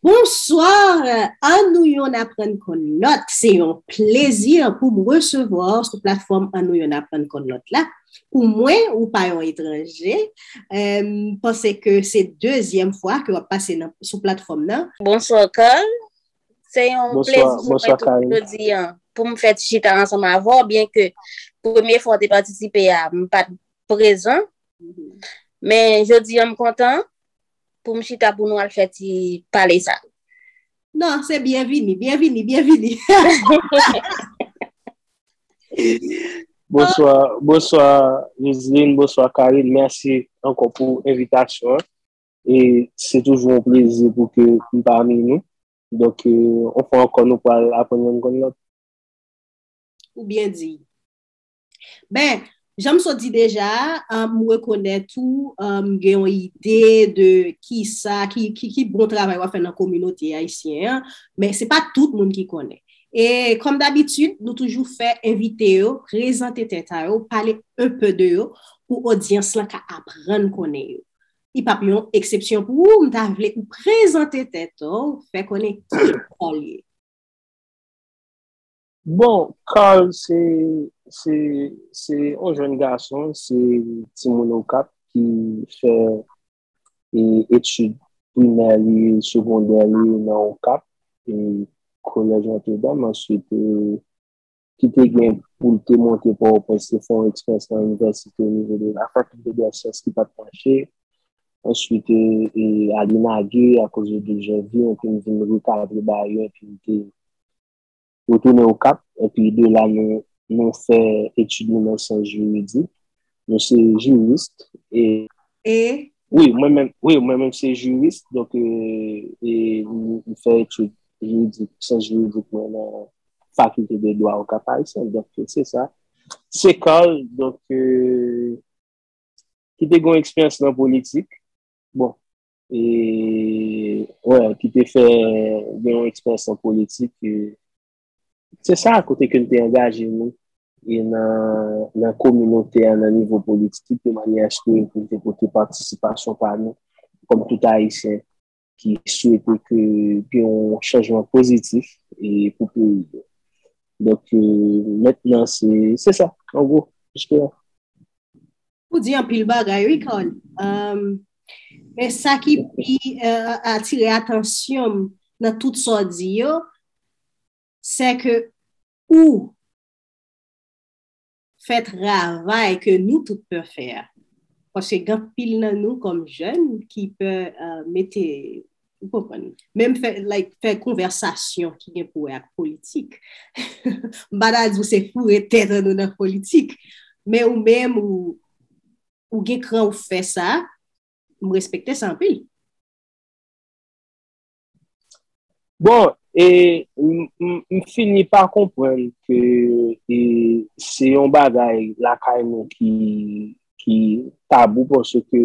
Bonsoir An nou yon aprann konn lòt se yon plezi pou m resevwa w sou platfòm An nou yon aprann konn lòt la pou mwen ou pa yon etranje m panse ke se dezyèm fwa ke w ap pase sou platfòm nan. Bonsoir Carl Se yon plezi pou mwen tou pou jodi an. Pou m fè ti chita ansanm avè w, byen ke premye fwa w te patisipe a, m pa t prezan. Men jodi an m kontan pou m chita pou nou al fè ti pale sa. Non, se byenvini, byenvini, byenvini. Bonswa, bonswa Rizlin, bonswa Karin. Mèsi ankò pou envitasyon an. E se toujou yon plezi pou ke m pami nou. Donk, yon fwa ankò nou pral aprann youn konn lòt. Ou byen di. Ben, jan m sot di deja, m rekonèt ou gen yon ide de ki sa, ki bon travay w ap fè nan kominote ayisyen an, men se pa tout moun ki konnen. E kòm dabitid, nou toujou fè envite yo prezante tèt a yo, pale enpe de yo, pou odyans lan ka aprann konnen yo. Li pap yon eksepsyon pou ou, m ta vle ou prezante tèt ou, fè konnen ki Carl ye. Bon, Carl se, se, se yon jèn gason, se timoun Okap ki fè etid primè li, segondè li nan Okap, kolèj Notre Dame, answit ki te gen pou l te monte Pòtoprens te fè yon eksperyans nan inivèsite o nivo de la Faculté de la Science ki pa t mache. Answit Aly Nagué akoz de dezyon vi an te vin rekadre Bayon epi m te retounen Okap epi de la nou fè etid nou nan syans jiridik. Mwen se jurist e. E? Wi, mwen menm, wi, mwen menm se jurist, donk e, e mwen fè etid jiridik, syans jiridik mwen nan fakilte de dwa Okap Ayisyen, donk se sa. Se Carl, donk, e, ki te gen yon eksperyans nan politik, bon, e, wè, ki te fè gen yon eksperyans nan politik, e, Se sa kote ke n te angaje nou e nan kominote a, nan nivo politik de manyè aske pou n te pote patisipasyon pa nou kòm tout Ayisyen ki swete ke gen yon chanjman pozitif pou peyi yo. Donk, mèt nan se sa, an gwo, jiske la. Ou di anpil bagay wi Carly. Men sa ki pi atire atansyon m nan tout sa w di yo, se ke ou fè travay ke nou tout pè fè a. Paske gen anpil nan nou kòm jèn ki pè mete Ou konprann? Menm fè, like, fè konvèsasyon ki gen pou wè ak politik. M pa ta di w se foure tèt an nou nan politik, men ou menm ou, ou gen kran ou fè sa, m respekte sa anpil. Bon, e, m fini pa konprann ke e, se yon bagay lakay nou ki, ki tabou paske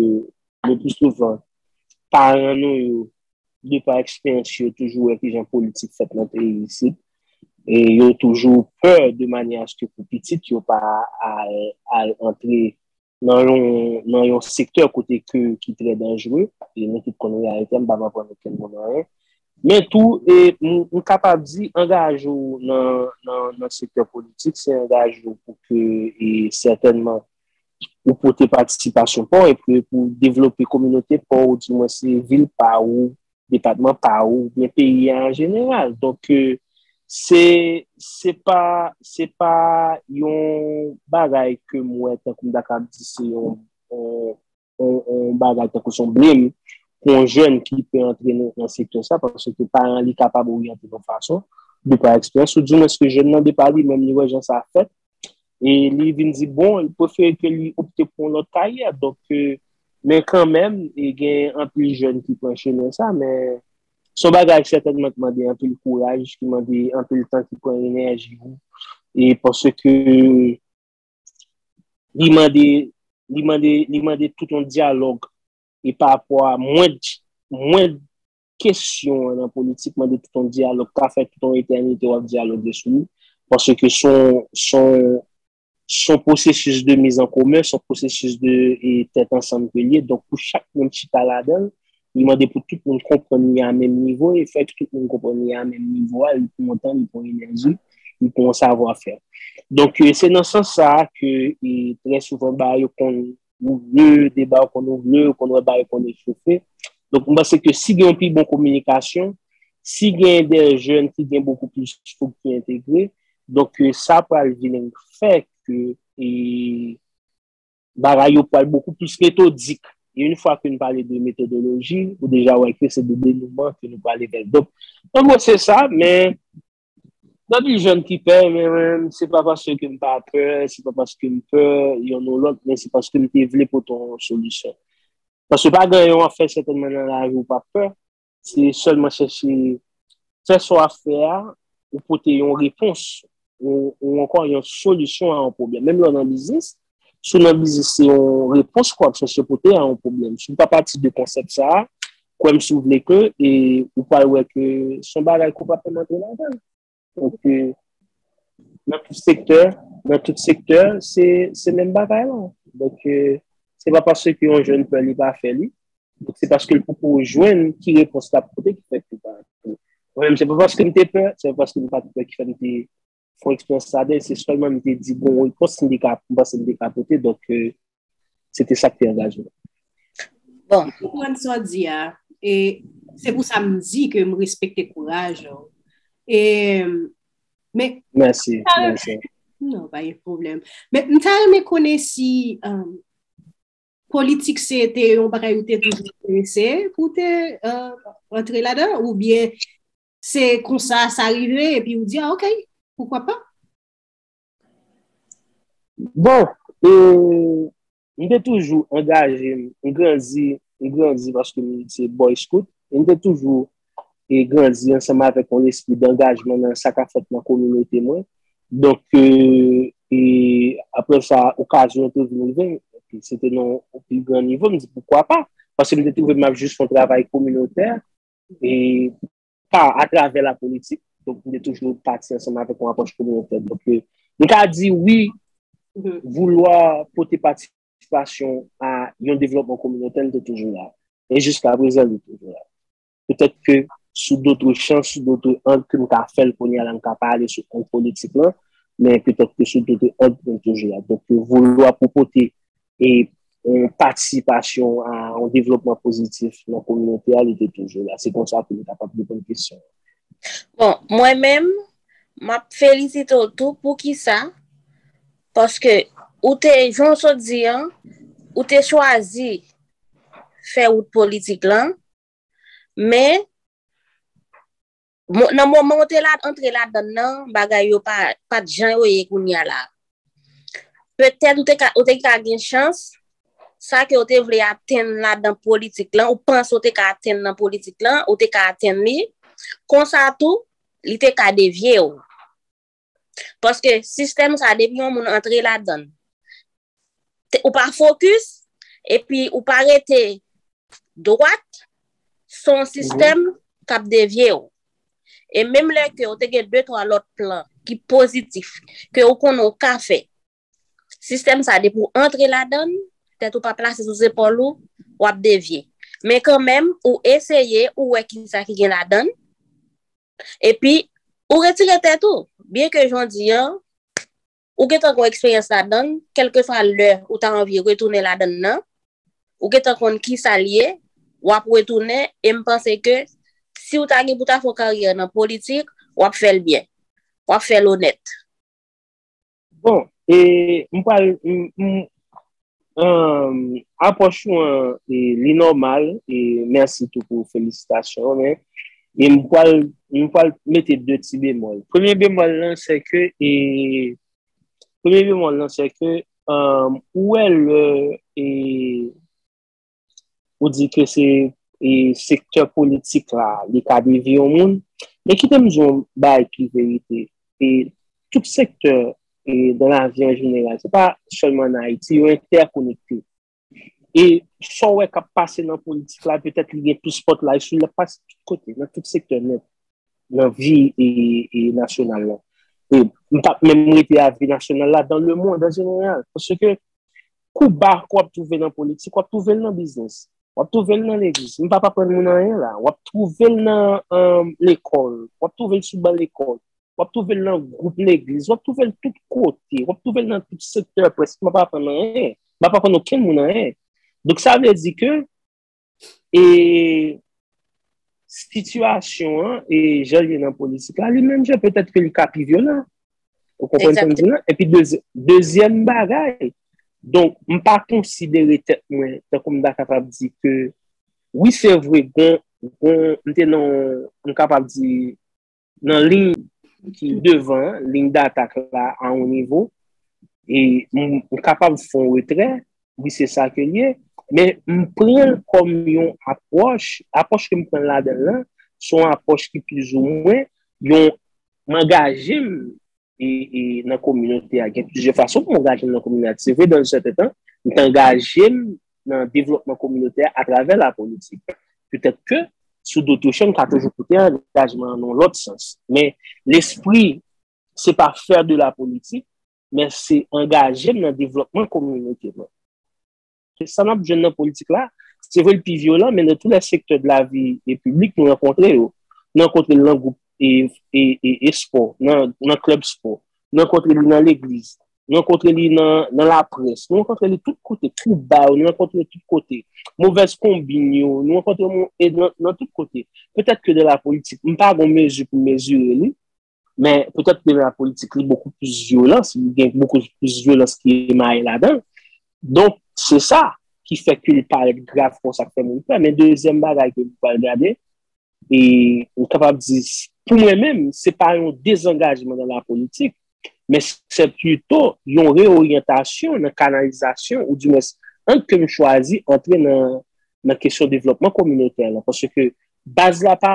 Le plus souvent, paran nou yo, de pa eksperyans yo, toujou wè kijan politik fèt nan peyi isit. E yo toujou pè de manyè aske pou pitit yo pa al antre nan yon sektè kote ke ki trè danjre. E nou tout konn reyalite a, m pa pran pou okenn moun anyen. Men tou, m kapab di, angaje w nan sektè politik, se angaje w pou ke, e sètènman, ou pote patisipasyon pa w epi pou w devlope kominote pa w ou di mwen se vil pa ou, depatman pa ou, ou byen peyi a an jeneral. Donk se se pa se pa yon bagay ke m wè tankou m ta kab di se yon yon bagay tankou son blèm pou yon jèn ki pe antre nan sektè sa, paske ke paran li kapab oryante yon fason, de pa eksperyans, ou di mwen se jèn nan de pa li menm li wè jan sa fèt, e li vin di bon, li prefere ke li opte pou yon lòt karyè, donk ke, men kan menm, e gen anpil jèn ki pran chemen sa, men, son bagay sètènman ki mande anpil kouraj, ki mande anpil tan, ki pran enèji ou, e paske ke. li mande, li mande, li mande tout yon dyalòg e pa apò a mwen, mwen kesyon an nan politik mande tout yon dyalòg ka fè tout yon etènite wap dyaloge sou li, paske son, son, son pwosesis de mizankomen, son pwosesis de tèt ansanm ke li ye, donk pou chak moun chita ladan l, Li mande pou tout moun konprann li a menm nivo e fè tout moun konprann li a menm nivo a, li pran yon tan, li pran yon enèji, li pran yon savwa fè. Donk se nan sans sa a ke trè souvan bagay yo konn ouvre, deba yo konn ouvre, ou konn wè bagay yo konn echofe. Donk m panse ke si gen yon pi bon kominikasyon, si gen dè jèn ki gen bokou plis fougue ki entegre, donk sa pral vin fè ke. Bagay yo pral bokou plis metodik. E yn fwa ke n pale de metodoloji, ou deja wè ke se de denouman ke nou prale vè l. Donk, an gwo se sa, men, nan di jèn ki pè, men menm, se pa paske ke m pa pè, se pa paske m pè yonn ou lòt, men se paske m te vle pote yon solisyon. Paske pa gen anyen w ap fè sètènman nan lavi ou pa p pè. Se sèlman chèche fè sa w ap fè a, ou pote yon repons, ou ankò yon solisyon a yon pwoblèm. Menm lè w nan biznis, si w nan biznis se yon repons ke w ap chèche pote a yon pwoblèm. Si w pa pati de konsèp sa a, kwè m si w vle ke, e ou pral wè ke se yon bagay ke w pa pèmèt w nan avanse. Paske nan tout sektè, nan tout sektè, se menm bagay la. Donk, se pa paske yon jèn pè li pa fè li, donk se paske l poko jwenn ki repons l ap pote ki fè li pa fè. Mwen menm, se pa paske m te pè, se pa paske m pa t pè ki fè m te fè eksperyans sa, men se sèlman m te di bon repons m te ka, m panse m te ka pote. Donk, Se te sa ki te angaje m. Bon. M konprann sa w di a. E se pou sa m di ke m respekte kouraj ou. E, men. Mèsi, mèsi. Non, pa gen pwoblèm. Men, m ta renmen konnen si politik se te yon bagay ou te toujou enterese pou w te antre ladan ou byen se konsa sa rive epi ou di, ok, poukwa pa? Bon, e, m te toujou angaje m, m grandi, m grandi paske m se Boy Scout, e m te toujou e grandi ansanm avèk yon lespri dangajman nan sa k ap fèt nan kominote mwen. Donk, e, e apre sa, okazyon an te vin rive m, epi se te nan yon pi gran nivo, m di poukwa pa, paske m te twouve m ap jis fè yon travay kominotè, e. pa atravè la politik, donk nou te toujou pati ansanm avèk yon apwòch kominotè. Donk, nou ka di wi, voulwa pote patisipasyon a yon devlòpman kominotè li te toujou la. E jiska prezan li toujou la. Petèt ke sou dotre chan, sou dotre ang ke nou ka fè l kounye a la, nou ka pa ale sou ang politik lan, men petèt ke sou dotre ang li toujou la. Donk, voulwa pou pote e yon patisipasyon a yon devlopman pozitif nan kominote a, li te toujou la. Se konsa pou nou kapab reponn kesyon an. Bon, mwen menm, m ap felisite w tou. Poukisa? Paske ou te, jan w sot di an, ou te chwazi fè wout politik lan, men, Nan moman ou te la, antre la dan nan, bagay yo pa, pa t jan yo ye kounye a la. Petèt ou te ka, ou te ka gen chans, sa ke ou te vle atenn la dan politik lan, ou panse ou te ka atenn nan politik lan, ou te ka atenn li, konsa tou, li te ka devye ou. Paske sistèm sa, depi yon moun antre la dan, ou pa fokis, epi ou pa rete dwat, son sistèm kap devye ou. E menm lè ke ou te gen 2, 3 lòt plan ki pozitif, ke ou konnen ou ka fè, sistèm sa depi ou antre ladann, tèt ou pa plase sou zepòl ou, wap devye. Men kan menm, ou eseye, ou wè ki sa ki gen ladann, epi ou retire tèt ou. Byen ke jondi an, ou gentan gon eksperyans ladann, kèlkeswa lè ou ta anvi retounen ladann nan, ou gentan konn kisa l ye, w ap retounen e m panse ke si w ta gen pou ta fè yon karyè nan politik, w ap fè l byen, w ap fè l onèt. Bon, e m pral, m, m, Apwòch ou an li nòmal e mèsi tou pou felisitasyon ou men e m pwal m pwal mete 2 ti bemòl. Premye bemòl lan se ke e premye bemòl lan se ke ou wè lè e ou di ke se sektè politik la li ka devi yon moun, men kite m di yon bagay ki verite, e tout sektè e dan lavi an jeneral, se pa sèlman an Ayiti, yo entèkonekte. E sa w wè k ap pase nan politik la, petèt li gen plis spotlight sou li, l ap pase tout kote, nan tout sektè nèt, nan vi e nasyonal la. E m pa p menm rete a vi nasyonal la, dan lemonn an jeneral, paske Kou ba ke w ap twouve nan politik, w ap twouve l nan biznis, w ap twouve l nan legliz. M pa p aprann moun anyen la. W ap twouve l nan lekòl, w ap twouve l sou ban lekòl, w ap twouve l nan gwoup legliz, w ap twouve l tout kote, w ap twouve l nan tout sektè prèske. M pa p aprann anyen. M pa p aprann okenn moun anyen. Donk sa vle di ke E sitiyasyon an, e jan li nan politik la, li menm jan petèt ke li ka pi vyolan. Ou konprann sa m di la? E pi dezyèm bagay, donk m pa konsidere tèt mwen, tankou m ta kapab di ke, wi se vre, m te nan, m kapab di, Nan liy ki devan, liy datak la a yon nivo, e m kapab fè yon retrè, wi se sa ke l ye, men m pran l kòm yon apwòch, apwòch ke m pran ladan l lan, se yon apwòch ki plizoumwen yon m angaje m e nan kominote a gen plizyè fason pou m angaje m nan kominote a. Se vre dan yon sèten tan, m te angaje m nan devlopman kominote a atravè lapolitik. Petèt ke sou do touche m ka toujou pote angajman an nan yon lòt sans. Men lespri se pa fè de lapolitik, men se angaje m nan devlopman kominote mwen. Se sa nap jwenn nan politik la. Se vre l pi vyolan, men nan tou lè sektè de la vi e piblik nou rankontre yo. Nan kontre l nan gwoup e spò, nan klèb spò. Nan kontre li nan legliz. Nan kontre li nan laprès. Nou rankontre li tout kote. Kou ba yo, nou rankontre yo tout kote. Movèz konbin yo, nou rankontre yo nan tout kote. Petèt ke nan la politik, m pa gon mezi pou mezire li. Men, petèt ke la politik li bokou plis vyolans, li gen bokou plis vyolans ki emaye ladan. Donk, se sa ki fè ke li parèt grav kon sa k fè moun pè. Men, dezyèm bagay ke nou pral gade, e nou kapab di, pou mwen menm, se pa yon dezangajman nan la politik, men se pito yon reoryantasyon nan kanalizasyon, ou di mwens, ant ke nou chwazi antre nan kesyon devlòpman kominotè la. Paske baz la pa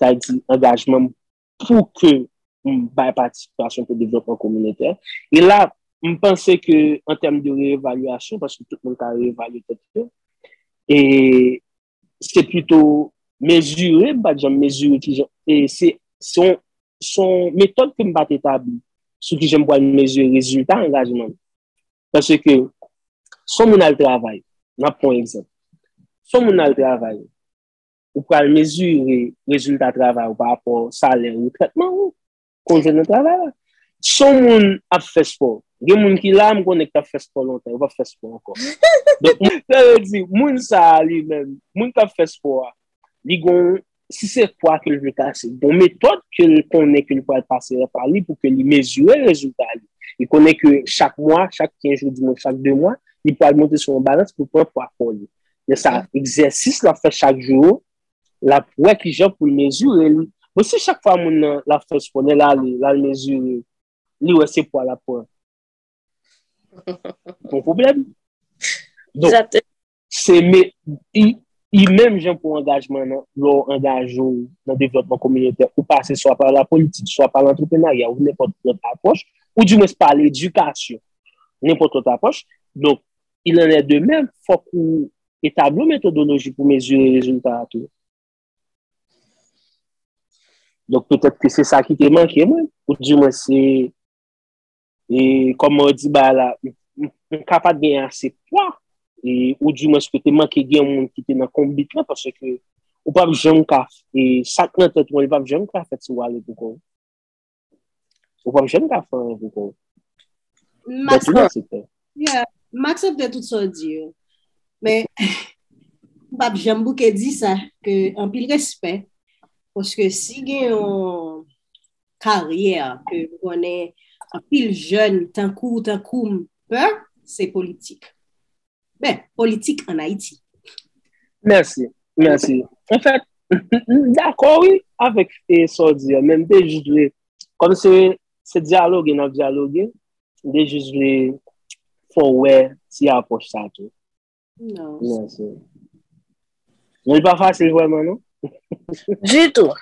sa di angajman m pou ke m bay patisipasyon pou devlopman kominotè. E la, m panse ke an tèm de re-evalyasyon, paske tout moun ka re-evalye tèt yo, e se pito mezire, m pa t janm mezire ki jan, e se son metòd ke m pa t etabli sou ki jan m pral mezire rezilta angajman m. Paske ke son moun al travay, nan pon egzanp, son moun al travay, ou pral mezire rezilta travay ou pa rapò salè ou, trètman ou konn jwenn nan travay la. Si yon moun ap fè spò, gen moun ki la m konnen ki t ap fè spò lontan, yo p ap fè spò ankò. Sa vle di, moun sa a li menm, moun k ap fè spò a, li gon, si se pwa ke l vle kase, li gon metòd ke l konnen ke li pral pase nan pwa li pou ke li mezire rezilta li. Li konnen ke chak mwa, chak 15 jou, dimonn chak 2 mwa, li pral monte sou yon balans pou l pran pwa kò li. Men sa egzèsis l ap fè chak jou yo, l ap wè ki jan pou l mezire li. Bon, si chak fwa moun nan l ap fè espò, lè l ale, l al mezire, li wè se pwa l ap pran, gon pwoblèm. Donk, se menm jan pou angajman nan, lè w angaje w nan devlòpman kominotè, ou pase swa pa lapolitik, swa pa lantreprenaryal, ou nenpòt lòt apwòch, ou dimwens pa ledikasyon, nenpòt lòt apwòch. Donk, il en est de même, fòk ou etabli yon metodoloji pou mezire rezilta a tou. Donk, petèt ke se sa ki te manke mwen, ou di mwen se, e, kòman ou di ba la, m ka pa gen ase pwa, e, ou di mwen se ke te manke gen moun ki te nan konbit la, pase ke ou pa janm ka, e, sak nan tèt mwen, ou pa janm ka fèt si wale pou kòw. Ou pa msye mka fè anvi kou. Mwen tout sa fè. Yeah, Max ap de tout sa di yo. Men, mpap janm bouke di sa, ke anpil respè, paske si gen yon karyè ke m konnen anpil jèn tankou, tankoum pè, se politik. Ben, politik an Ayiti. Mèsi, mèsi. En fèt, m dakò wi avèk sa w di a, men m te jis vle, kòm se se dyaloge n ap dyaloge, m te jis vle fè w wè ti apwòch sa tou. Mèsi. Men l pa fasil vrèman non. Ditou.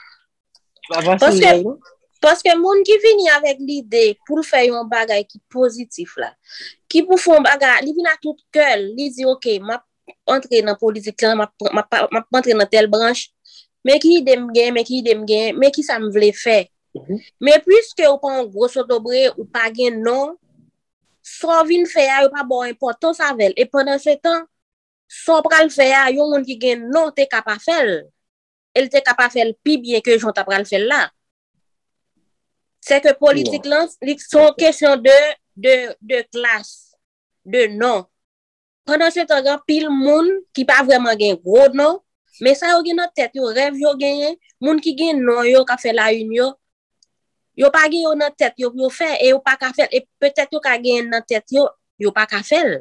Paske moun ki vini avèk lide pou l fè yon bagay ki pozitif la, ki pou fè yon bagay, li vin a tout kè l, li di ok, m ap antre nan politik, m ap antre nan tèl branch, men ki ide m gen, men ki ide m gen, men ki sa m vle fè. Men pwiske ou pa yon gwo sotobre, ou pa gen non, sa w vin fè a, yo pa ba w enpòtans avè l. E pandan se tan, sa w pral fè a, yon moun ki gen non te ka pa fè l. e l te ka pa fè l pi byen ke jan w ta pral fè l la. Se ke politik lan, li se yon kesyon de, de, de klas, de non. Pandansetan gen anpil moun ki pa vrèman gen gwo non, men sa yo gen nan tèt yo, rèv yo genyen, moun ki gen non yo k ap fè la in yo, yo pa gen yo nan tèt yo pou yo fè, e yo pa ka fè l, e petèt yo ka genyen l nan tèt yo, yo pa ka fè l.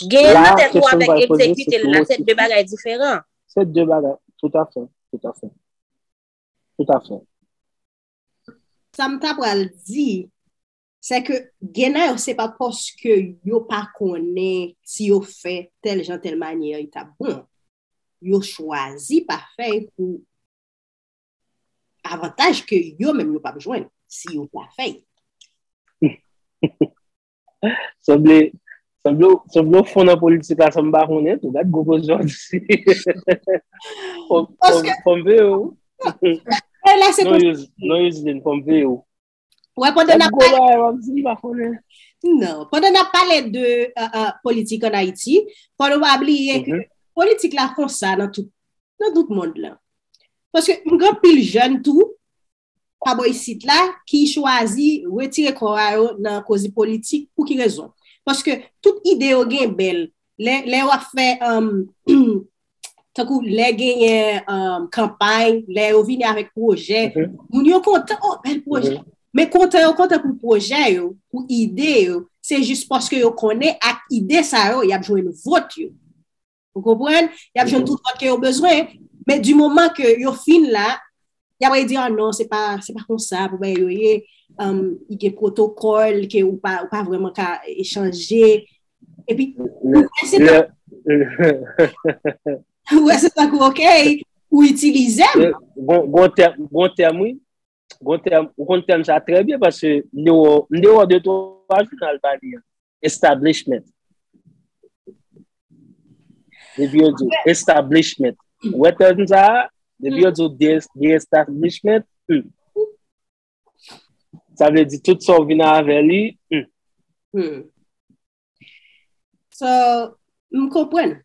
Genyen l nan tèt ou avèk egzekite l la, se de bagay diferan. Se de bagay, tout a fè, tout a fè, tout a fè. Sa m ta pral di, se ke gen nan yo se pa paske yo pa konnen si yo fè tèl jan tèl manyè li ta bon. Yo chwazi pa fè l pou avantaj ke yo menm yo pa p jwenn si yo pa fè l. Sanble, sanble, sanble ou fon nan politik la san m pa konnen tou. Gad gwo kozyon w di. Fòm, fòm, fòm ve ou. Hey, la se Non, Yos, non Yoseline, fòm ve ou. Wè, pandan Gad nap gwo pale, bagay wap di m pa konnen. non, pandan nap pale de uh, uh, politik an Ayiti, fò nou pa bliye ke Mhm. politik la konsa nan tout, nan tout mond lan. Paske m gen pil jèn tou, pa bò isit la ki chwazi retire kò a yo nan koze politik pou ki rezon? Paske tout ide yo gen bèl, lè yo ap fè, tankou lè genyen kanpay, lè yo vini avèk pwojè, moun yo kontan, oh bèl pwojè. Men kontan yo kontan pou pwojè yo, pou ide yo, se jis paske yo konnen ak ide sa yo y ap jwenn vòt yo. Ou konprann? Y ap jwenn tout lòt ke yo bezwen, men di moman ke yo fin la, y ap redi, ah non, se pa, se pa konsa pou bagay yo ye, y gen pwotokòl ke ou pa, ou pa vreman ka echanje, epi, ou wè se pa, ou wè se pa kou ok, ou itilize m. Bon, bon tèm, bon tèm wi, bon tèm, ou konn tèm sa trè byen, paske m dewe, m dewe 2-3 jounal pa li an. Establishment. Depi yo di establishment. Wè tèm sa, depi yo di de establishment, hmm. sa vle di tout sa ou vin avè li. Hmm. Hmm. So, m konpren.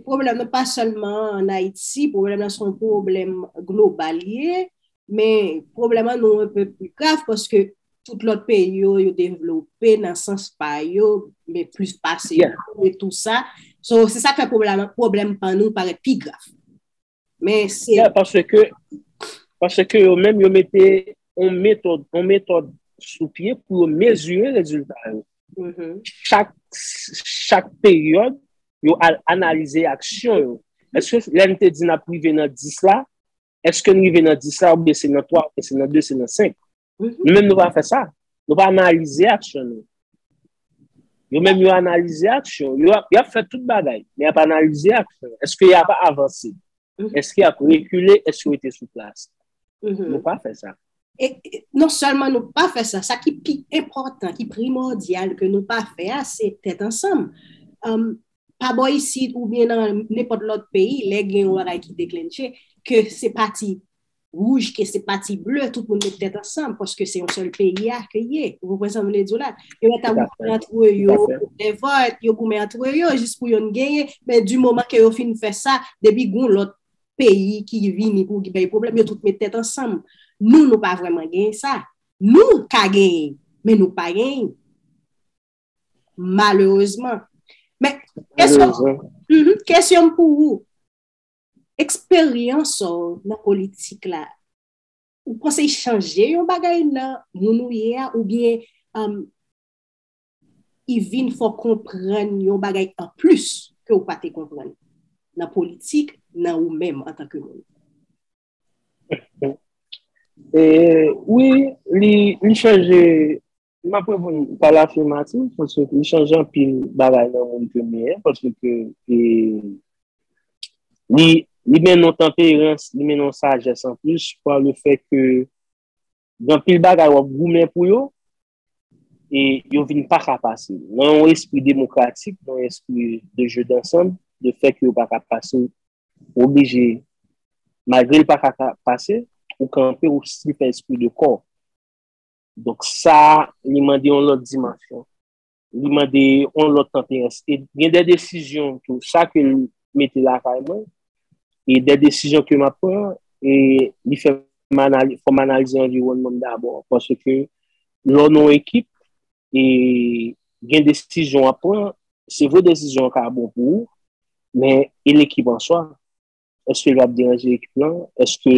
Problem nan pa selman an Haiti, problem nan son problem global ye. Men pwoblèm an nou anpe pi grav paske tout lòt peyi yo yo devlope nan sans pa yo, men plis pase yo e tou sa. So, se sa k fè pwoblèm pa nou parèt pi grav. Men se... Ya, paske, paske yo menm yo mete yon metòd, yon metòd sou pye pou yo mezire rezilta yo. Chak, chak peryòd, yo al analize aksyon yo. Eske lè n te di n ap rive nan 10 la, Eske nou rive nan 10 la oubyen se nan 3, oubyen se nan 2, se nan 5? Nou menm nou pa fè sa. Nou pa analize aksyon nou. Yo menm yo analize aksyon. Yo ap fè tout bagay. Men ap analize aksyon. Eske y ap avanse? Eske y ap rekile? Eske yo te sou plas? Nou pa fè sa. Non sèlman nou pa fè sa. Sa ki pi enpòtan, ki primòdyal ke nou pa fè a, se tèt ansanm. pa bò isit ou byen nan nenpòt lòt peyi, lè gen yon bagay ki deklentche, ke se pati wouj, ke se pati ble, tout moun met tèt ansanm, paske se yon sèl peyi a ke ye. Ou konprann sa m vle di w la? Yo met ap goumen antre yo, lèvòt, yo goumen antre yo, jis pou youn genyen, men di moman ke yo fin fè sa, depi goun lòt peyi ki vini pou ki bay pwoblèm, yo tout met tèt ansanm. Nou, nou pa vrèman genyen sa. Nou ka genyen, men nou pa genyen. Malerezman. Men, kesyon pou ou, eksperyans ou nan politik la, ou panse chanje yon bagay nan moun ou ye a, ou byen, um, y vin fò konprann yon bagay an plis ke ou pa te konprann nan politik, nan ou menm an tanke moun? Wi, li chanje M ap reponn pa lafimativ paske li chanje anpil bagay nan moun ke m ye a paske ke e li li mennen yon tanperans, li mennen yon sajès anplis pa le fè ke gen anpil bagay w ap goumen pou yo e yo vin pa ka pase w. Nan yon espri demokratik, nan yon espri de jeu d'ensemble, le fè ke yo pa ka pase w, ou oblije malgre l pa ka pase, ou kanpe, ou still fè espri de kò. Donk sa li mande yon lòt dimansyon. Li mande yon lòt tanperans. E gen de desizyon tou sa ke li mete lakay mwen. E de desizyon ke m ap pran. E li fè fò m analize anviwònman m dabò. Paske lò nou ekip e gen desizyon w ap pran. Se vre desizyon an ka bon pou ou. Men e lekip an swa. Eske li ap deranje ekip lan? Eske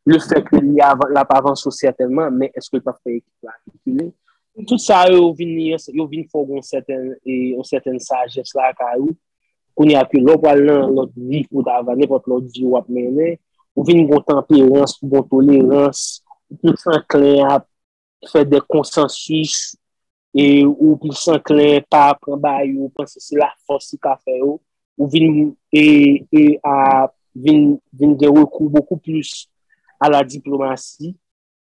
le fè ke li ap avanse ou sètènman, men eske li pap fè ekip la rekile? Tout sa yo vin fè w gen yon sètèn sajès lakay ou. Kounye a ke lè w pral nan lòt vi ou ta va, nenpòt lòt vi ou ap mennen, ou vin gen yon tanperans, yon tolerans, ou plis anklen a fè de konsansis, e ou plis anklen pa pran ba yo, ou panse se la fòs ki ka fè yo, ou vin e, e a vin, vin gen rekou bokou plis a la diplomasi,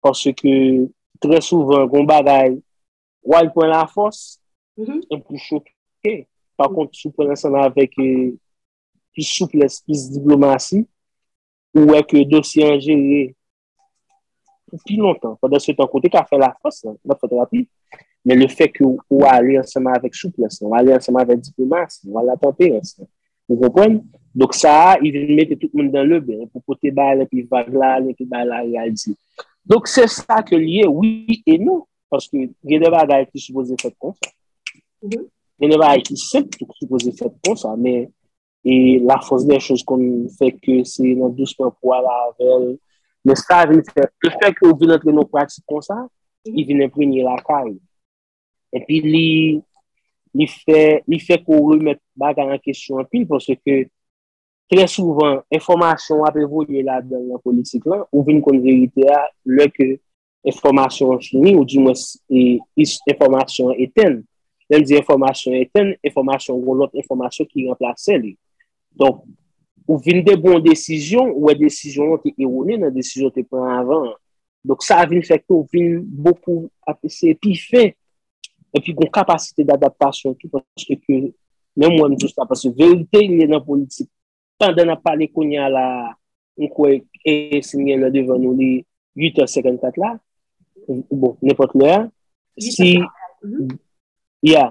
paske trè souvan gon bagay, w al pran la fòs, e pou choke, pa kont sou pran ansanm avèk e, plis souplès, plis diplomasi, ou wè ke dosye an jere, pou pi lontan. Pandan se tan kote ka fè la fòs lan, nan fè terapi, men le fè ke ou ale ansanman avèk souplès lan, ou ale ansanman avèk diplomas lan, ou ale avèk tanperans lan. Ou konprann? Donk sa a, i vin mete tout moun dan le ben, pou pote ba l, epi vag la ale, epi ba l la al di. Donk se sa ke l ye, wi e non. Paske gen de bagay ki sipoze fèt konsa. Gen de bagay ki senp ki sipoze fèt konsa, men e la fòs dè chòz konn fè ke se nan dousman pou ala avèl, men sa vin fè, le fè ke ou vin antre nan pratik konsa, li vin enpremye lakay, epi li, li fè, li fè ke ou remèt bagay an kesyon anpil, pòske ke, trè souvan, enfòmasyon wap evolye ladan nan politik lan, ou vin konn verite a, lè ke enfòmasyon an fini ou dimwens enfòmasyon an etenn. Lè m di enfòmasyon etenn, enfòmasyon ou gen lòt enfòmasyon ki ranplase li. Donk, ou vin de bon desizyon, ou wè desizyon an te ewone nan desizyon ou te pran avan an. Donk, sa vin fè ke ou vin bokou ap eseye pi fen epi gen kapasite dadaptasyon tou paske ke menm mwen m di sa paske verite li nan politik. pandan nap pale kounya la m kwè si m gen lè devan nou li 8 è 54 la bon nenpòt lè a si ya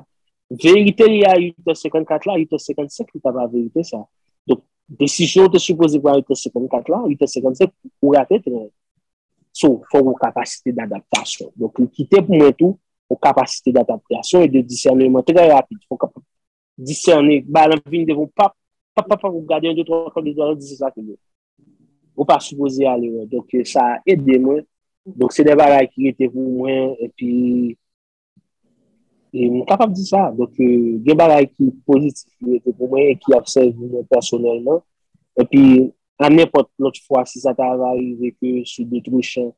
verite li a 8 è 54 la 8 è 55 li pa pa verite sa donk desizyon ou te sipoze pran 8 è 54 la 8 è 55 ou rate tren an so fòk ou kapasite d'adaptasyon donk li kite pou mwen tou ou kapasite d'adaptasyon e de disèneman trè rapid fòk disène, ba lan vin devan ou pap, pap pap pap ou gade yon de twa fwa de twa ou di se sa ki bon. Ou pa sipoze ale wè. Donk sa ede mwen. Donk se de bagay ki rete pou mwen epi e m kapab di sa. Donk gen bagay ki pozitif ki rete pou mwen e ki ap sèvi mwen pèsonèlman. Epi a nenpòt lòt fwa si sa ta va rive ke sou de tro chan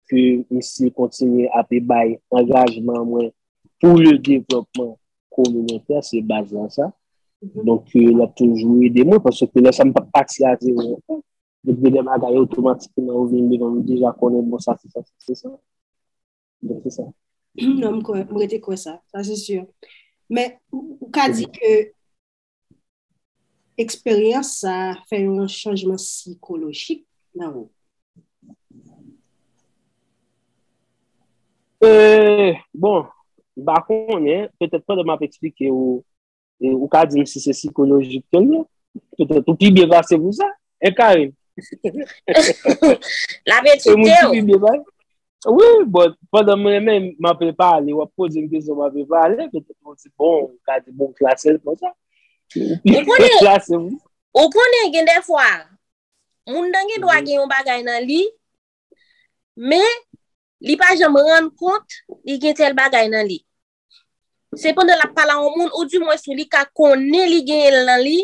ke misye kontinye ape bay angajman mwen pou le devlòpman kominotè, se baz lan sa. Donk ke l ap toujou ede mwen, paske lè sa m pa p pati a zewo ankò. Donk gen de bagay otomatikman yo vin devan m, m deja konnen bon sa se sa, sa se sa. Donk se sa. Non, m kwè, m rete kwè sa. Sa se si. Men, ou ka di ke Eksperyans sa a fè yon chanjman sikolojik nan ou? Ee, bon, m pa konnen, petèt pandan m ap eksplike ou, ou ka di m si se sikolojik ke l ye. Petèt ou pi byen plase pou sa, hein Carine? L ap edike ou. Wi, bon, pandan m renmen, m ape pale, w ap poze m kesyon, m ape pale, petèt m di bon, m ka di bon, klase l konsa. Ou konnen, klase m. Ou konnen gen de fwa, moun nan gen dwa gen yon bagay nan li, men, li pa janm rann kont, li gen tèl bagay nan li. Se pandan l ap pale a yon moun, ou di mwens ou li ka konnen li genyen l nan li,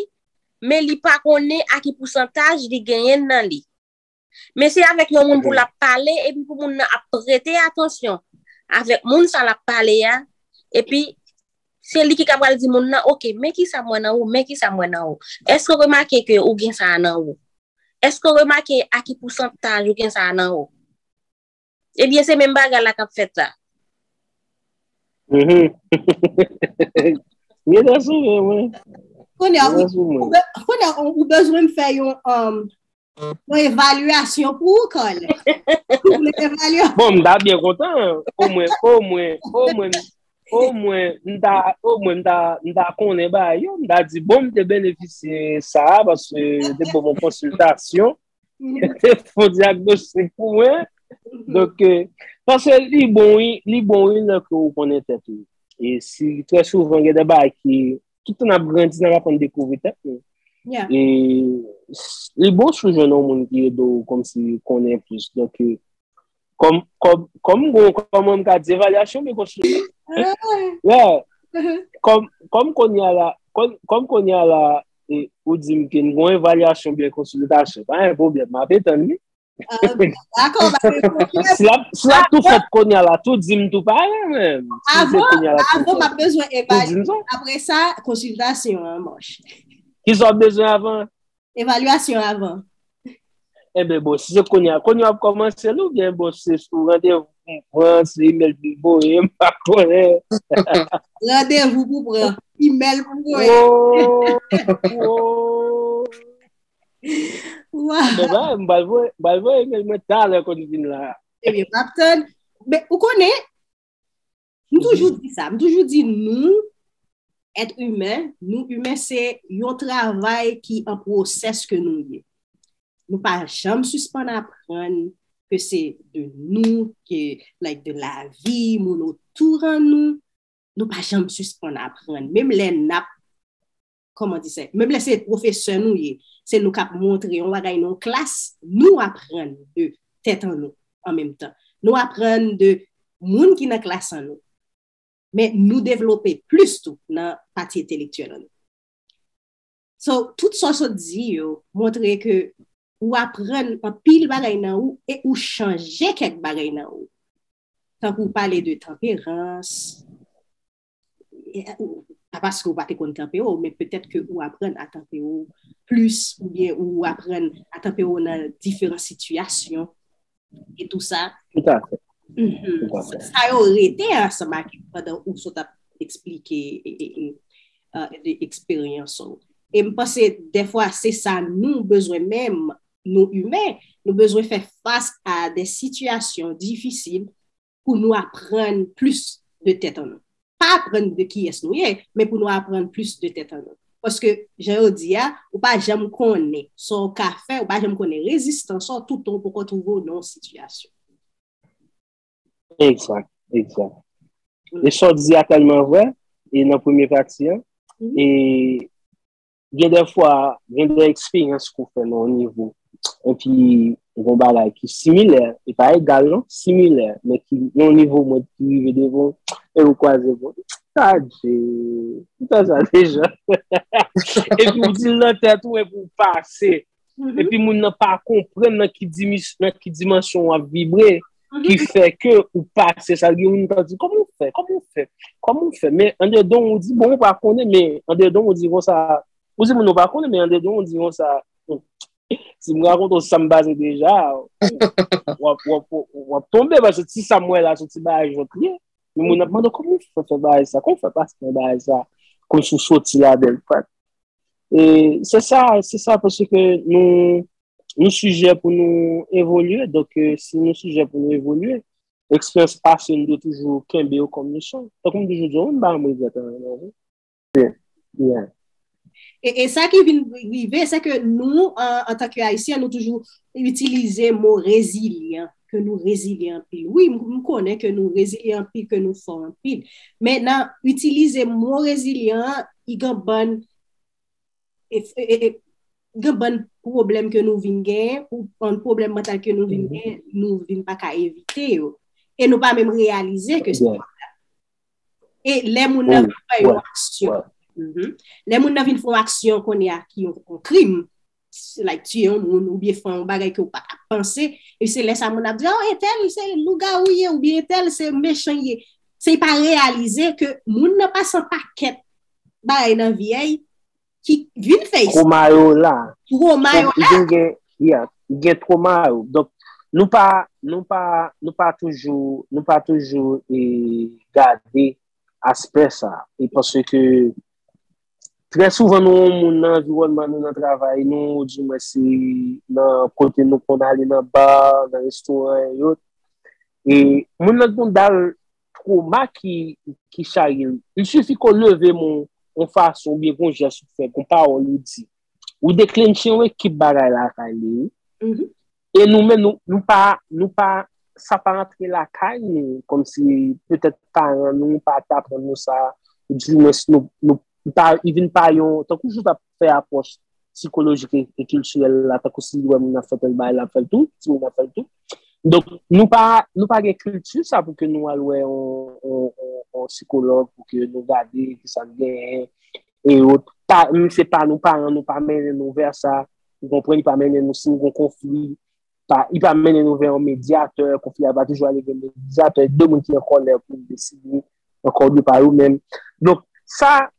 men li pa konnen a ki pousantaj li genyen l nan li. Men se avèk yon moun pou l ap pale epi pou moun nan ap prete atansyon avèk moun sa l ap pale a, epi se li ki ka pral di moun nan, ok, men ki sa m wè nan ou, men ki sa m wè nan ou. Èske ou remake ke ou gen sa a nan ou? Èske ou remake a ki pousantaj ou gen sa a nan ou? Ebyen se menm bagay la kap fèt la. Mwen ta sou vre mwen. Kounye a ou bezwen m fè yon evalyasyon pou ou Carl. Bon m ta byen kontan o mwen o mwen o mwen o mwen m ta o mwen m ta m ta konnen ba yo m ta di bon m te benefisye sa a paske te bon m konsiltasyon. Fon diagnostic pou mwen. Donk, panse li bon wi, li bon wi lè ke ou konnen tèt ou. E si, trè souvan gen de bagay ki, tout tan ap grandi nan ap konn dekouvri tèt nou. E li bon si ou jwenn yon moun ki ede ou kòmsi konnen plis. Donk, Kòm, kòm, kòm m gwo, kòm mwen m ka di evalyasyon mwen kontinye. Lè, kòm, kòm kounye a la, kòm, kòm kounye a la, e, ou di m ke m gwo evalyasyon byen konsolidasyon, pa gen pwoblèm, m ape tann li. Dakò, ba gen pwoblèm. Si l ap, si l ap tou fèt kounye a la, tou di m tou pare menm. Avan, avan m ap bezwen evalye, apre sa, konsiltasyon an, monchè. Kisa w ap bezwen avan? Evaluation avan. Enben bon, si se kounye a, kounye a ap kòmanse l oubyen bon se sou randevou pou m pran, se imèl pou m voye, m pa konnen. Randevou pou pran, imèl pou voye. Woo! Bon bagay, m pral voye, m pral voye imèl mwen talè kon m vin la. Ebyen, m ap tann. Men, ou konnen, M toujou di sa, m toujou di nou, et humain, nou humain se yon travay ki an pwosès ke nou ye. Nou pa janm sispann aprann ke se de nou, ke like de la vi, moun otou ran nou, nou pa janm sispann aprann. Menm lè nap Kòman di sa? Menm lè se pwofesè nou ye, se nou k ap montre yon bagay nan yon klas, nou aprann de tèt an nou an menm tan. Nou aprann de moun ki nan klas an nou. Men nou devlope plis tou nan pati entelektyèl an nou. So, tout sa w sot di yo montre ke ou aprann anpil bagay nan ou e ou chanje kèk bagay nan ou. Tankou w pale de tanperans. pa paske ou pa te konn kanpe ou, men petèt ke ou aprann a kanpe ou plis, ou byen ou aprann a kanpe ou nan diferan sitiyasyon, e tou sa. Tout a fè. Sa yo rete ansanm ak ou pandan ou sot ap eksplike de eksperyans ou. E m panse, defwa, se sa nou bezwen menm, nou imen, nou bezwen fè fas a de sitiyasyon difisil, pou nou aprann plis de tèt an nou. Pa aprann de kiyès nou ye, men pou nou aprann plis de tèt an nou. Paske, jan yo di a, ou pa janm konnen sa w ka fè, ou pa janm konnen rezistans ou toutan ou poko twouve w nan yon sitiyasyon. Egzat, egzat. E sa w di a tèlman vrè, e nan premye pati an, e Gen de fwa, gen de eksperyans ke w fè nan yon nivo, epi gen yon bagay ki similè, e pa egal non, similè, men ki nan yon nivo mwen ki rive devan w, e ou kwaze bra w, adje, m fè sa deja, epi w di l nan tèt ou epi w pase. Mm-hmm. Epi moun nan pa konpren nan ki dimansyon wap vibre mm-hmm. ki fè ke ou pase sa gen moun nan di kòm ou fè, kòm ou fè, kòm ou fè men an de don ou di bon ou pa konnen men an de don ou di kon sa ou di moun ou pa konnen men an de don ou di kon sa si mwen akon ton sam baze deja wap tombe baso ti sam wè la sou ti ba ajon kli moun nan pwando kòm ou fè fè ba ajon sa kòm ou fè pase fè ba ajon sa kòm sou soti la bel pat E se sa, se sa paske nou nou sijè pou nou evolye, donk e si nou sijè pou nou evolye, eksperyans pase nou dwe toujou kenbe yo kòm leson. Tankou m toujou di yo, m pa janm regrèt anyen nan vi. Yeah. E e sa ki vin rive, se ke nou an antanke Ayisyen, nou toujou itilize mo rezilyan. ke nou rezilye anpil. Wi, m konnen ke nou rezilye anpil, ke nou fò anpil. Men nan itilize mo rezilyan an, i gen bann gen bann pwoblèm ke nou vin gen, ou bann pwoblèm mantal ke nou vin gen, nou vin pa ka evite yo. E nou pa menm reyalize ke se pa sa. E lè moun nan vin fè yon aksyon, lè moun nan vin fè yon aksyon kounye a ki yon krim, like tiye yon moun ou byen fè yon bagay ke ou pa tap panse, e se lè sa moun ap di oh entèl se lougawou li ye ou byen entèl se mechan li ye. Se pa reyalize ke moun nan pase yon pakèt bagay nan vi a ki vin fè sa. Twoma yo la. Twoma yo la. Gen gen, yeah, gen twoma yo. Donk nou pa, nou pa, nou pa toujou, nou pa toujou e gade aspè sa. E panse ke Trè souvan nou wè moun nan anviwònman nou, nan travay nou, ou di mwen se nan kote nou konn ale nan bar, nan restoran e yot. E moun nan konn dal troma ki ki charye l. Il sifi ke w leve men w yon fason oubyen gen yon jès ou fè, gen yon pawòl ou di. Ou deklenche yon ekip bagay lakay li wi. E nou menm nou pa, nou pa, sa pa antre lakay nou, kòm si petèt paran nou pa te aprann nou sa, ou di mwen si nou, nou, li pa, li vin pa yon, tankou jou ta fè apwòch sikolojik e kiltirèl la, tankou si li wè moun ap fè tèl bagay l ap fè l tou, timoun nan ap fè l tou. Donk, nou pa, nou pa gen kilti sa pou ke nou al wè yon, yon sikològ pou ke nou gade ki sa n genyen e ot. Pa, se pa nou, paran nou pa mennen nou vè sa. Ou konpren li pa mennen nou si nou kon konfli. Li pa mennen nou vè yon medyatè. Konfli a va toujou ale vè yon medyatè. De moun ki an kòlè pou yon deside. An kòlè pa yo menm. Donk sa,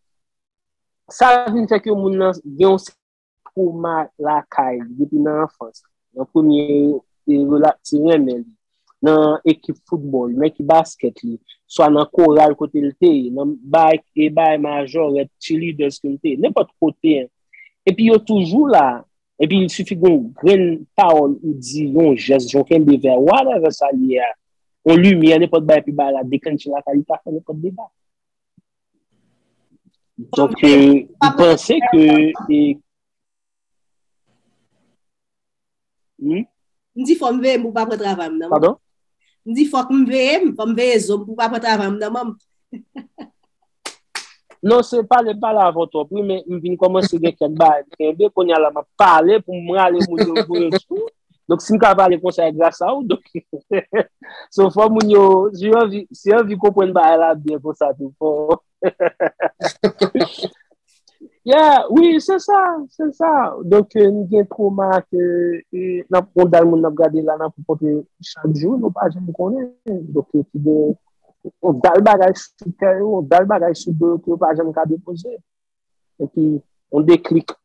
sa vin fè ke moun nan gen yon sèten twoma lakay li. Depi nan anfans. Nan premye relat ti renmen li. Nan ekip foutbòl, nan ekip baskèt li. Swa nan koral kote li te ye. Nan bay e bay majorèt, cheerleaders ke li te ye. Nenpòt kote. Epi yo toujou la, epi il sifi gon grenn pawòl ou di, yon jès, yon kenbe vè, whatever sa li ye a, yon limyè, nenpòt bagay pou bagay la deklenche lakay li, pa fè nenpòt dega. Donk, m panse ke e. Wi. M di fò m veye m pou pa pran travay m nan. Padon? M di fòk m veye m, fò m veye zo m pou pa pran travay m nan man. Non se pale pale avè w twòp wi men m vin kòmanse gen kèk bagay m kenbe kounya la m ap pale pou m rale moun yo voye m sou. Donk si m ka pale konsa e gras a ou donk. So fò moun yo si yo anvi si yo anvi konprann bagay la byen konsa tou fò. Yeah, wi, se sa, se sa. Donk, euh, nou gen troma ke e, nan pou dal moun nan gade la nan pou pote chak jou, nou pa jen konnen. Donk, ki gen on dal bagay sou kè yo, on dal bagay sou do yo ki yo pa jen ka depoze. E ki, on deklik.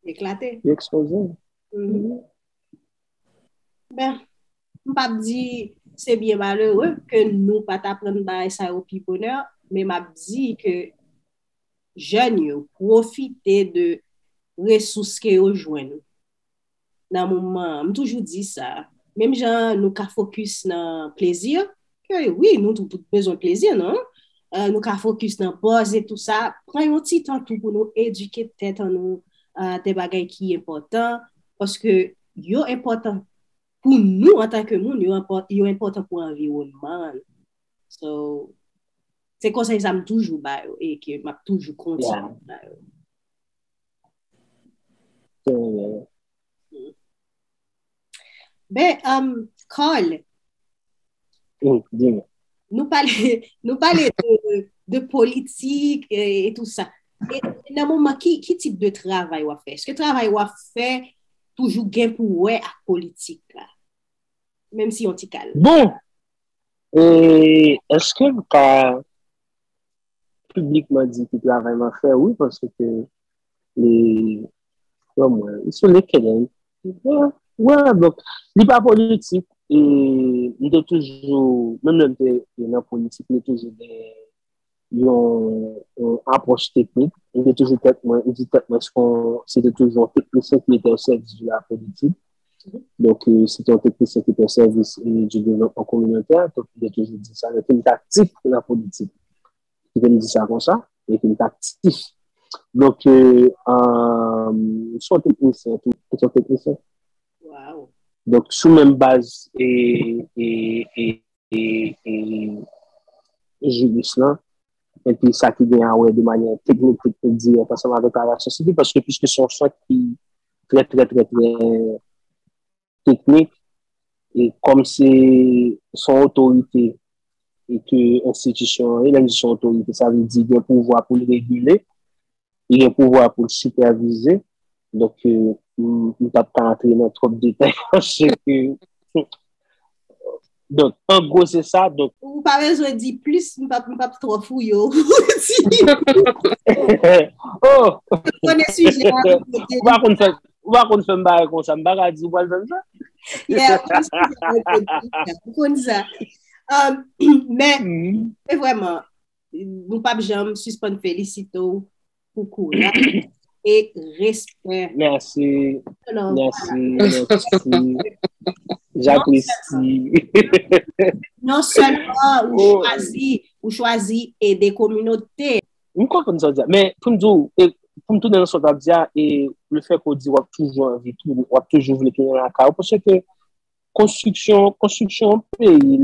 Eklate. Ekspoze. Mm -hmm. Ben. M pap di se byen malere ke nou pat aprann bagay sa yo pi bonè, men map di ke jèn yo pwofite de resous ke yo jwenn nan moman an. M toujou di sa, menm jan nou ka fokis nan plezi, ke wi nou tout bezwen plezi nan, nou ka fokis nan bòz e tou sa, pran yon ti tan tou pou nou edike tèt an nou de bagay ki enpòtan, paske yo enpòtan. Pou nou antan ke moun, yo enpòtan pou anviwònman an. So, se konsèy sa m toujou ba yo e ke m ap toujou kontinye ba yo. Ben, Carl, nou pale de politik e tout sa. Nan moman, ki tip de travay w ap fè? Eske travay w ap fè? Toujou gen pou wè ak politik la. Menm si yon ti kal. Bon! E eske m ka piblikman di ki travay map fè? Wi paske ke li Bon mwen li sou linkedin. Wè donk li pa politik e li te toujou menm lè li te nan politik li toujou gen yon apwòch teknik, mwen te toujou tèt mwen, mwen di tèt mwen se kon se te toujou yon teknisyen ki te osèvis de la politik, donk se te yon teknisyen ki te osèvis de devlopman kominotè, donk mwen te toujou di sa, mwen te aktif nan la politik, mwen te di sa kon sa, mwen te aktif. Donk, mwen se yon teknisyen tou, mwen se yon teknisyen. Donk, sou menm baz e, e, e. jiris lan, epi sa ki gen awè de manyè teknik ki te di anpasa nan deklarasyon sivil, paske piske se yon sant ki trè trè trè trè teknik, e kòm se son otorite e ke enstitisyon, e lè nou di son otorite, sa vle di gen pouvwa pou l regile, li gen pouvwa pou l sipèvize, donk m pap ka antre nan twòp detay paske donk an gwo se sa. Ou pa bezwen di plis, m pap twò fouye w pou w di. Ou pa konn fè m bagay konsa, m pa ka di ou pral fè m sa. Yeah, ou konn sa. Ou konn sa. Men, se vwèman. Nou pap janm sispann felisite w pou kouraj e respè. Mèsi, mèsi, mèsi. Japresi. Non sèlman ou chwazi, ou chwazi ede kominote. M konprann sa w di a, men pou m di w, pou m tounen nan sa w t ap di a, e le fè ke w di w ap toujou anvi tounen, w ap toujou vle tounen lakay ou, paske Konstriksyon, konstriksyon yon peyi,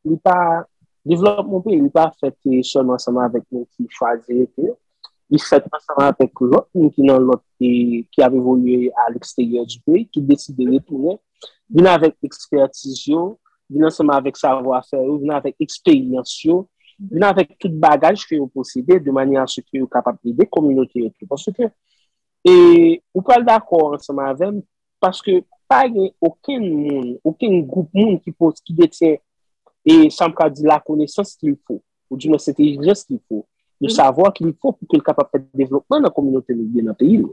li pa, devlòpman yon peyi li pa fèt sèlman ansanm avèk moun ki chwazi rete, li fèt ansanm avèk lòt moun ki nan lòt peyi, ki ap evolye a leksteryè di peyi, ki deside retounen, vin avèk ekspètiz yo, vin ansanm avèk savwafè yo, vin avèk eksperyans yo, vin avèk tout bagaj ke yo posede, de manyè a se ke yo kapab ede kominote yo tou. Paske, e, ou pral dakò ansanm avèm, paske pa gen okenn moun, okenn gwoup moun ki pos, ki detyen, e sa m ka di lakonesans ki l fo, ou di mwen sentelijans ki l fo, le savwa ki l fo pou ke l kapab fè devlopman nan kominote li oubyen nan peyi l.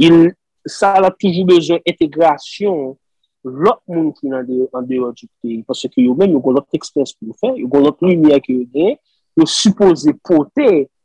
Il, sa l ap toujou bezwen entegrasyon lòt moun ki nan de, an deyò di peyi, paske yo menm yo gen lòt eksperyans pou yo fè, yo gen lòt limyè ke yo genyen, yo sipoze pote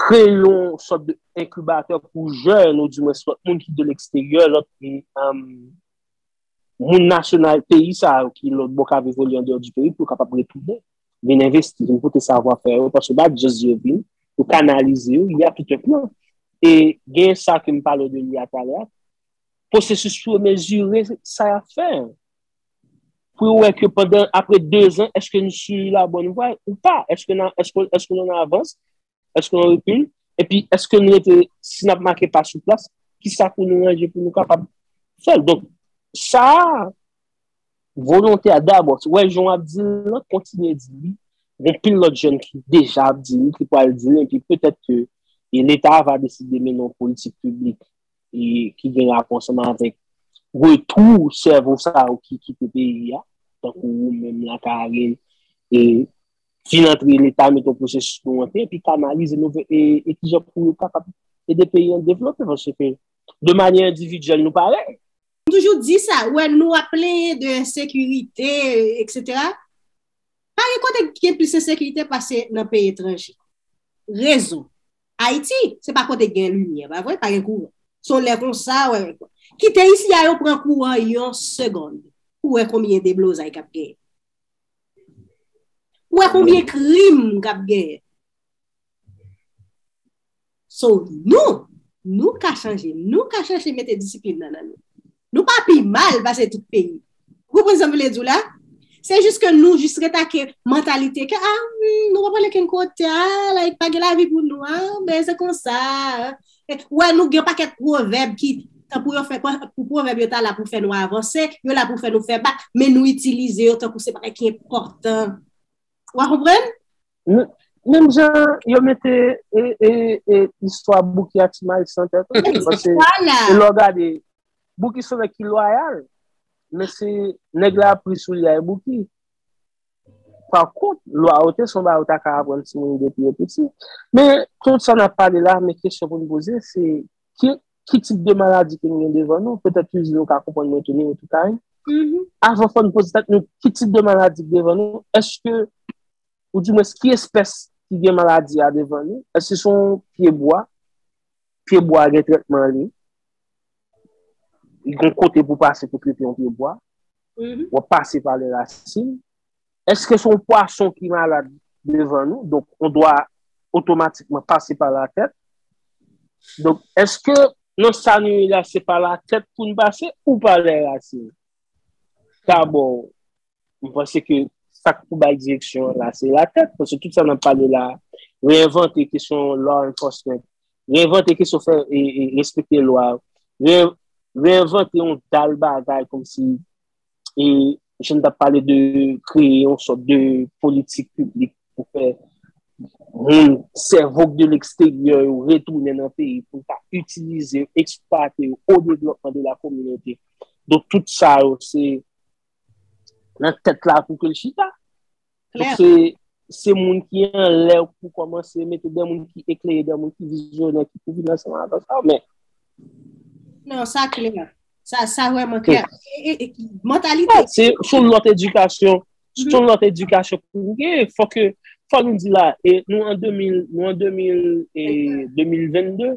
kreye yon sòt de enkibatè pou jèn, ou di mwen sòt moun ki de leksteryè, lòt moun nasyonal peyi sa yo ki lòt bò ka vivoli an deyò di peyi pou kapap retounen, vin envesti, vin pote savwa fè yo, paske bat jès di yo vin, yo kanalize yo, y a tout yon plan. E gen sa ke m pale de li a talè, pwosesis pou yo mezire sa y ap fè. pou yo wè ke pandan apre 2 zan, eske nou su la bòn vwa ou pa, eske nou an avans, eske nou an rekil, epi eske nou rete, si n ap make pa sou plas, ki sa pou nou ranje pou nou kapab fè l. Donk, sa a, volonte a dabò, wè jan w ap di l lan, kontinye di li, gen pil lòt jèn ki deja ap di li, ki pral di li, epi petèt ke leta va deside mennen yon politik piblik ki gen rapò ansanm avèk retou sèvo sa yo ki kite peyi a, tankou ou menm la Karin, e fin antre leta met yon pwosesis pou yo antre, epi kanalize nou vè e ki jan pou yo kapab ede peyi an devlope, paske de manyè endividyèl nou pare. M toujou di sa, ou wè nou ap plenyen de ensekirite, eksetera, pa gen kote ki gen plis ensekirite pase nan peyi etranje. Rezon. Ayiti se pa kote k gen limyè pa vre, pa gen kouran. So lè konsa wè kite isi a yo pran kouran yon segond pou wè konbyen deblozay k ap genyen. Pou wè konbyen krim k ap genyen. So nou, nou ka chanje, nou ka chanje mete disiplin nan nan nou. Nou pa pi mal pase tout peyi. Ou konprann sa m vle di w la? Se jis ke nou jis ret ak mantalite ke a nou pa pral okenn kote a like pa gen lavi pou nou a men se konsa a. Ou wè nou gen yon pakèt pwovèb ki tankou yo fè tankou pwovèb yo ta la pou fè nou avanse, yo la pou fè nou fè bak men nou itilize yo tankou se bagay ki enpòtan. Ou a konprann? Menm jan yo mete istwa Bouki ak Ti Maris nan tèt ou. Pase, e lò gade, Bouki son nèg ki lwayal. Men se nèg la pri sou li ay Bouki. Pa kont, lwayote son ba yo ta ka aprann ti moun depi yo piti. Men, tout sa nan pale la, men kesyon pou nou poze, se ki tip de maladi ke nou gen devan nou? Petèt ki di nou ka konprann mwen tounen yo tout a. Avan fò nou poze tèt nou ki tip de maladi devan nou? Eske. ou di mwens ki espès ki gen maladi a devan li, èske se yon pye bwa, pye bwa a gen trètman li, li gen kote pou pase pou trete yon pye bwa, ou ap pase pa lè rasin, èske se yon pwason ki malad devan nou, donk ou dwa otomatikman pase pa la tèt, donk èske nan sa nou ye la se pa la tèt pou nou pase ou pa lè rasin, dabò mwen panse ke sa k pou bay direksyon an la, se latèt, paske tout sa n ap pale la a, reenvante kesyon law enforcement, reenvante kesyon fè respekte lwa, reenvante yon dal bagay kòm si, e jan n t ap pale de kreye yon sòt de politik piblik pou fè moun sèvo k de leksteryè yo retounen nan peyi pou ta itilize, eksplwate yo o devlòpman de la kominote. Donk tout sa yo se. nan tèt la pou ke l chita. Donk se, se moun ki anlè pou kòmanse mete dè moun ki eklere, dè moun ki vizyonè ki pou vin ansanm avèk sa w, men. Non, sa klè. Sa, sa vrèman klè. E, e, mantalite. Sa, se, se yon lòt edikasyon, se yon lòt edikasyon pou ou gen. Fò ke, fò nou di la, e, nou an 2000, nou an 2000, e, 2022,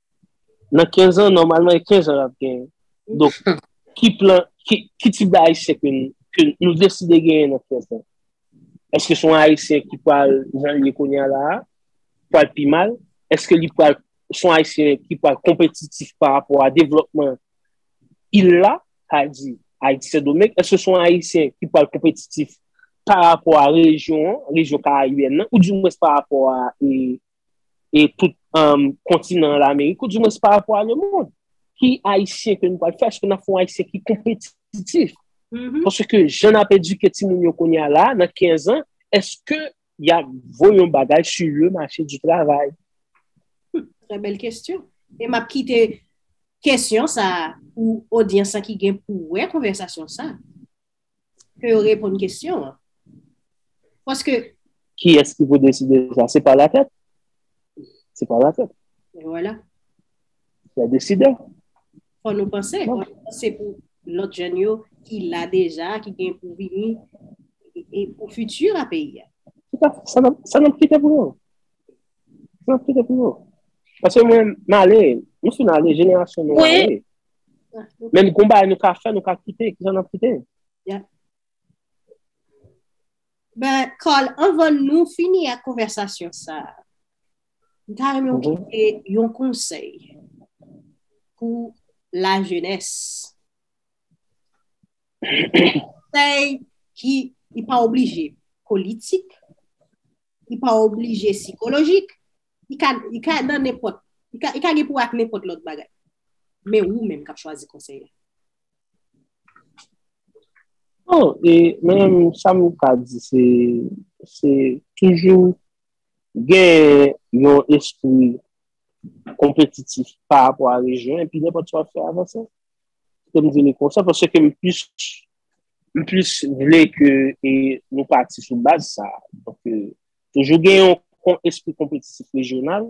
Nan 15 an, nòmalman e 15 an l ap genyen. Donk, ki plan, ki tip de Ayisyen ke nou deside genyen nan 15 an? Eske se yon Ayisyen ki pral jan l ye kounya la a? Pral pi mal? Eske li pral, se yon Ayisyen ki pral konpetitif pa rapò a devlòpman il la, sa vle di Ayiti Sendomeng? Eske se yon Ayisyen ki pral konpetitif pa rapò a rejyon an, rejyon karayibèn nan, ou di mwens pa rapò a e tout kontinan lamerik ou di mwen se pa rapò a lemond ki ayisyen ke nou pral fè eske nou fè ayisyen ki konpetitif poske ke jen ap edike ti moun yo konya la nan 15 an eske ya voyon bagay si yo mache di travay trè bel kestyon e map kite kestyon sa ou odyensan ki gen pou wè konvèsasyon sa ke yo reponn kesyon an. Paske... Ki es ki pou deside sa? Se pa la tèt? Se pa la tèt? E wala. Se a deside. Fò nou panse, fò nou panse pou lòt jèn yo ki la deja, ki gen pou vini, e pou fiti la peyi a. Se pa, sa nan, sa nan pkite pou yo. Sa nan pkite pou yo. Paske mwen, male, mwen si male, jenerasyon mwen male. Menm konba nou ka fè, nou ka kite, ki sa nan kite? Yeah. Ben, Carl, anvan nou fini ak konversasyon sa, mwen ta renmen ou kite yon konsèy pou la jenès. Konsèy ki li pa oblije politik, li pa oblije sikolojik, Li ka, li ka nan nenpòt, li ka, li ka gen pou ak nenpòt lòt bagay. Men ou menm kap chwazi konsèy la. Bon, e menm sa m ka di se, se toujou gen yon espri konpetitif pa rapò a rejyon epi nenpòt sa w ap fè avanse. Kèm di nou konsa paske m plis, m plis vle ke e nou pati sou baz sa. Donk, Toujou gen yon kon espri konpetitif rejyonal,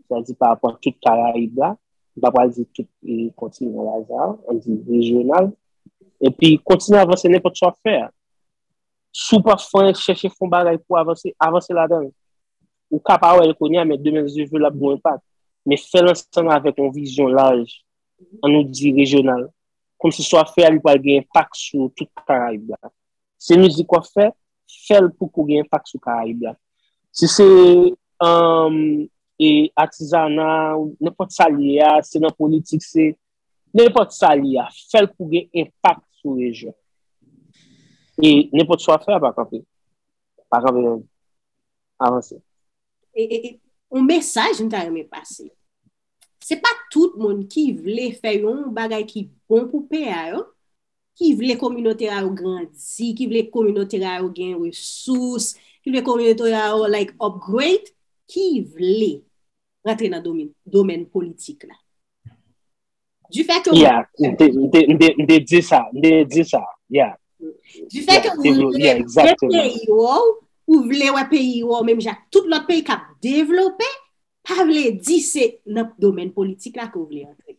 sa di pa rapò tout Karayib la, m pa pral di tout kontinan la sa, an di rejyonal, epi kontinye avanse nenpòt sa w ap fè a. Si w pa fè, chèche fè yon bagay pou avanse, avanse ladan l. Ou ka pa wè l kounye a, men demen Dye vle l ap gen yon enpak. Men fè l ansanm avèk yon vizyon laj, an nou di rejyonal, kòmsi sa w ap fè a li pral gen enpak sou tout Karayib la. Se mizik w ap fè, fèl pou kou gen enpak sou karayib la. Si se atizana, nenpòt sa li ye a, se nan politik, se nenpòt sa li ye a, fèl pou gen enpak sou rejyon. E nenpòt sa w ap fè a pa kanpe. Pa kanpe menm. Avanse. E yon mesaj m ta renmen pase. Se pa tout moun ki vle fè yon bagay ki bon pou peyi a yo, ki vle kominote a yo grandi, ki vle kominote a yo gen resous, ki vle kominote a yo like upgrade, ki vle rentre nan domèn politik la. Du fè ke ou... Yeah, m'te di sa, m'te di sa, yeah. Du fè ke ou vle gen peyi ou, ou vle wè peyi ou, menm jak tout lòt peyi kap devlope, pa vle di se nan domèn politik la ke w vle antre.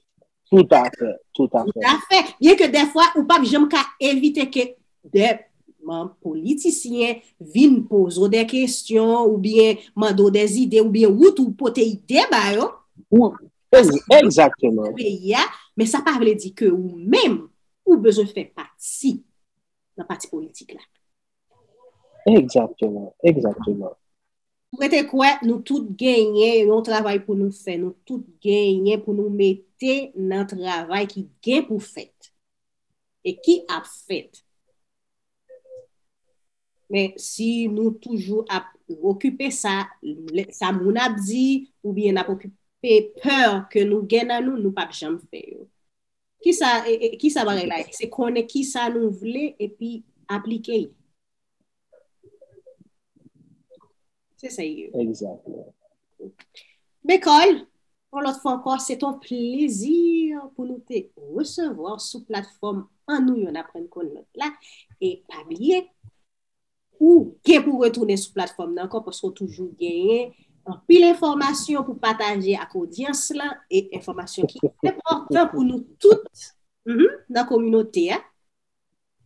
Tout a fè, tout a fè. Tout a fè. Byen ke dèfwa ou pap janm ka evite ke dè manm politisyen vin poze w dè kestyon ou byen mande w dè zide ou byen ou tou pote ide ba yo. Ou, egzakteman. Nan peyi a, men sa pa vle di ke ou menm ou bezwen fè pati nan pati politik la. Egzakteman, egzakteman. M rete kwè nou tout genyen yon travay pou nou fè, nou tout genyen pou nou mete nan travay ki gen pou fèt, e ki ap fèt. Men si nou toujou ap okipe sa, sa moun ap di, ou byen ap okipe pè ke nou gen nan nou, nou pap janm fè yo. Kisa bagay la ye? Se konnen kisa nou vle epi aplike. Se sa ye. Exactly. Bekòl, yon lòt fwa ankò, se ton plezi pou nou te resevwa w sou platfòm An Nou Youn Aprann Konn Lòt la. E pa bliye, ou gen pou retounen sou platfòm nan ankò paske w toujou genyen anpil enfòmasyon pou pataje ak odyans lan e enfòmasyon ki enpòtan pou nou tout nan kominote a.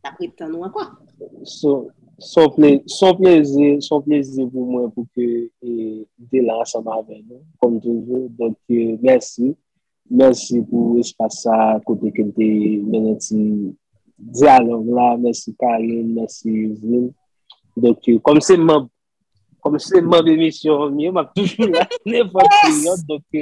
Nap ret tann ou ankò. Son plezi, son plezi pou mwen pou ke m te la ansanm avè nou, kòm toujou. Donk, mèsi. Mèsi pou espas sa a kote ke m te mennen ti dyalòg la. Mèsi Karin, mèsi Yveline. Donk, kòm se manb Kòm se manb emisyon an yo, m ap toujou la nenpòt peryòd. Donk,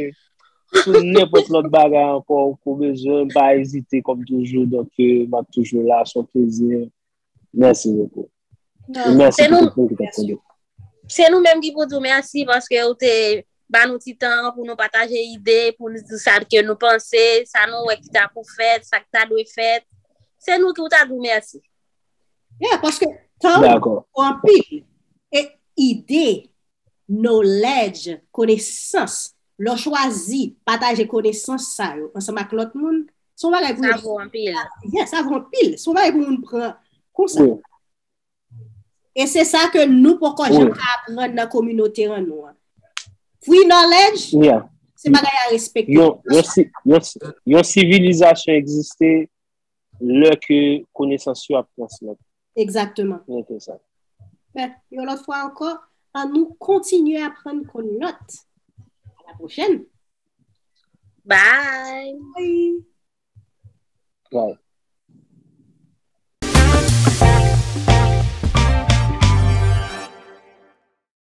sou nenpòt lòt bagay ankò ou ko bezwen m, pa ezite kòm toujou. Donk, m ap toujou la, s on plezi. Mèsi bokou. E mèsi pou tout moun ki t ap tande. Se nou menm ki pou di w mèsi paske ou te ba nou ti tan an pou nou pataje ide, pou nou di sa ke nou panse, sa nou wè ki ta pou fèt, sa k ta dwe fèt. Se nou tou w ta di w mèsi. Yeah, paske tan ou anpil. E ide, knowledge, konesans, lò chwazi pataje konesans sa yo ansanm ak lòt moun, se yon bagay pou moun. Sa vò anpil. Yeah, sa vò anpil. Se yon bagay pou moun pran konsa. E se sa ke nou poko jan ka aprann nan kominote an nou an. Free knowledge, se bagay a respekte. Yon sivilizasyon egziste, Lè ke konesans yo ap transmèt. Egzakteman. Mwen te sa. Mè, yon lòt fwa ankò, an nou kontinye aprann kon lòt. A la pwochèn. Bye! Bye! Bye!